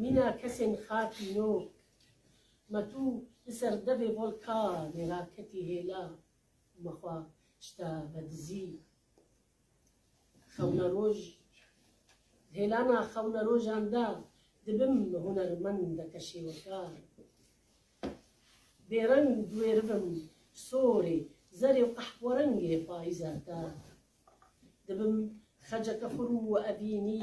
Mîna kesên xakî nok. Ma tu li ser devê volkanê ra ketî hêla û ma xwe şita vedizî. Xewnaroj Hêlana xewnarojan de dibim hunermendeke şêwekar. Bêreng diwêribim sorê, zerê û qehwerengê payîza te. Dibim xeceke xurm û evînî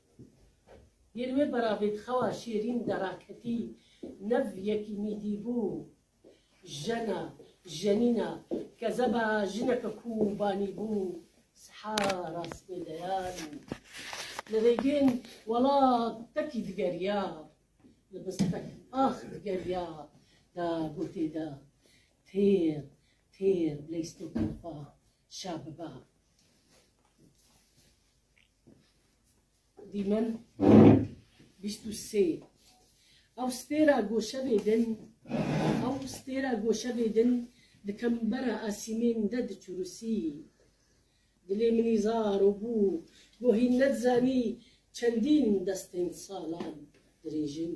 Yên wê beravê di xewa şêrîn de raketî nev yekîmî dîbû, jena, jenîna, kezeba jineke ku banî bû siha rastê deyan li rêgên welat tekî digeriya, li bistek ax digeriya da gotê da, Têr, têr, leystokan xwe Şa biba. Dîmen bîst û sê. Ew stêra goşevê din ew stêra goşevê din di kembera asîmên de diçûrisî. Dilê min îzar û bû bo hîn nedizanî çendîn destên salan dirêjin.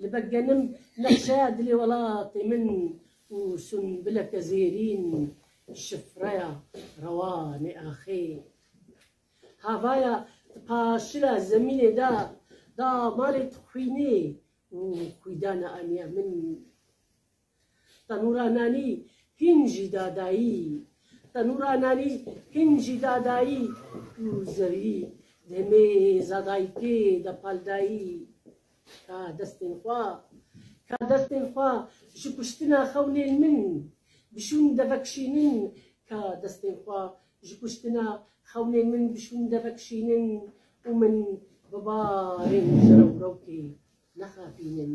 Li ber genim nexşeya dilê welatê min û sunbileke zêrîn şifreya rewanê axê. Havaya di paşila zemînê de damarê dixwînê û xwîdana aniya min. Tenûra nanî hîn jî dadayî Tenûra nanî hîn jî dadayî Û zerrî dê mêza dayikê de paldayî Ka destên xwe, ka destên xwe Ji kuştina xewnên min bişûn devek şînin Ka destên xwe ji kuştina xewnên min bişûn devek şînin Û min bi barên ji rewrewkê nexapînin.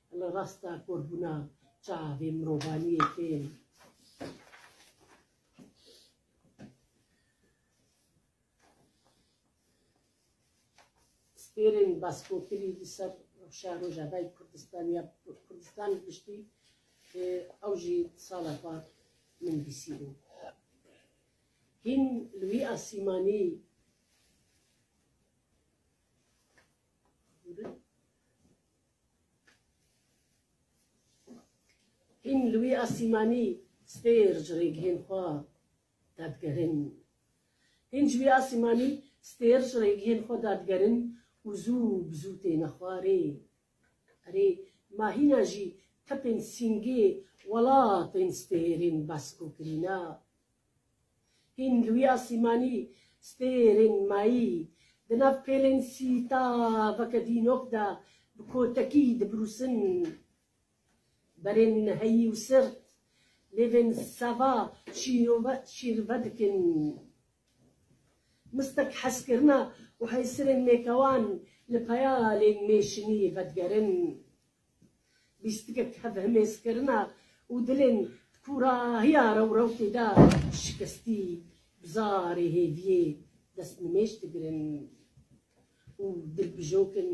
Li rasta korbûna çavê mirovaniyê tên. Stêrên baskokirî li ser rewşa Rojavayê Kurdistanê ya Kurdistan bi giştî ew jî sala par min bîsîbû. Hîn li wî asîmanî Hîn li wî asîmanî stêr ji rêgihên xwe dadigerin. Hîn ji wî asîmanî stêr ji rêgihên xwe dadigerin û zû bi zû têne xwarê. Erê, ma hîna jî tipên sîngê welatên stêrên Basko kirîna Hîn li wî asîmanî stêrên mayî di nav pêlên sî taveke dînok de bi kotekî dibrûsin. Berên heyî û sirt lêvên seva şîrove şîrve dikin. Mistek hezkirina û heysirên mêkewan li peyalên mêşinî vedigerin. Bîstikek tevhemêzkirina û dilên di kûrahiya rewrewtê de şikestî bi zarê hêviyê destnimêj digirin û dilbijok in.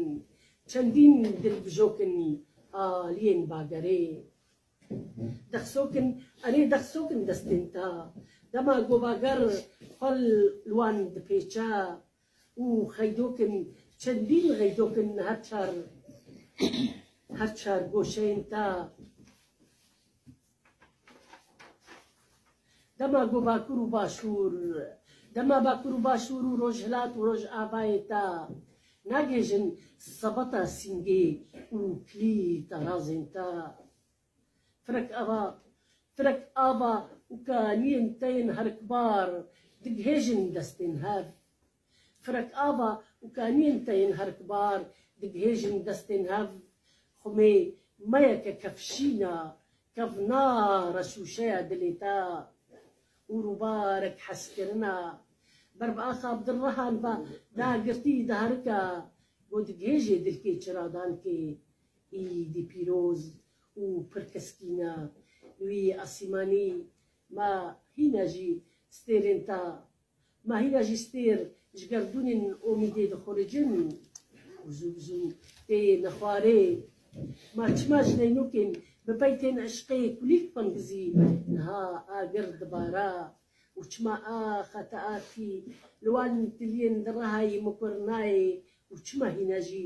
Çendîn dilbijok in aliyên bagerê dexsok in, erê dexsok in destên te. Dema govager xwe li wan dipêçe, Û xeydokên çendîn xeydokên her çar her çar goşeyên ta dema ku Bakur û Başûr dema Bakur û Başûr û Rojhilat û Rojavayê ta nagihêjin sebata sîngê û kilî tarazên ta. Firek ava, firek ava û kaliyên te yên herikbar digihêjin destên hev. Firek ava û kaliyên te yên herikbar digihêjin destên hev. Xumê me ye ke kevşîna, kevna reşûşeya dilê te û rûbarek heskirina. Ber bi axa Abdulrehan ve dagirtî diherike, got, Digihêjê dilkê çiradan kê, Îdî pîroz û pir teskîna wî asîmanî ma hîna jî stêrên ta ma hîna jî stêr ji gerdûnên omîdê dixuricin û zû bi zû tê nexwarê. Ma çima ji neynûkên bi pey tên eşqê kulîlk pingizî niha agir dibara û çima a xeteatî li wan tiliyên di rehayî mikur nayê û çima hîna jî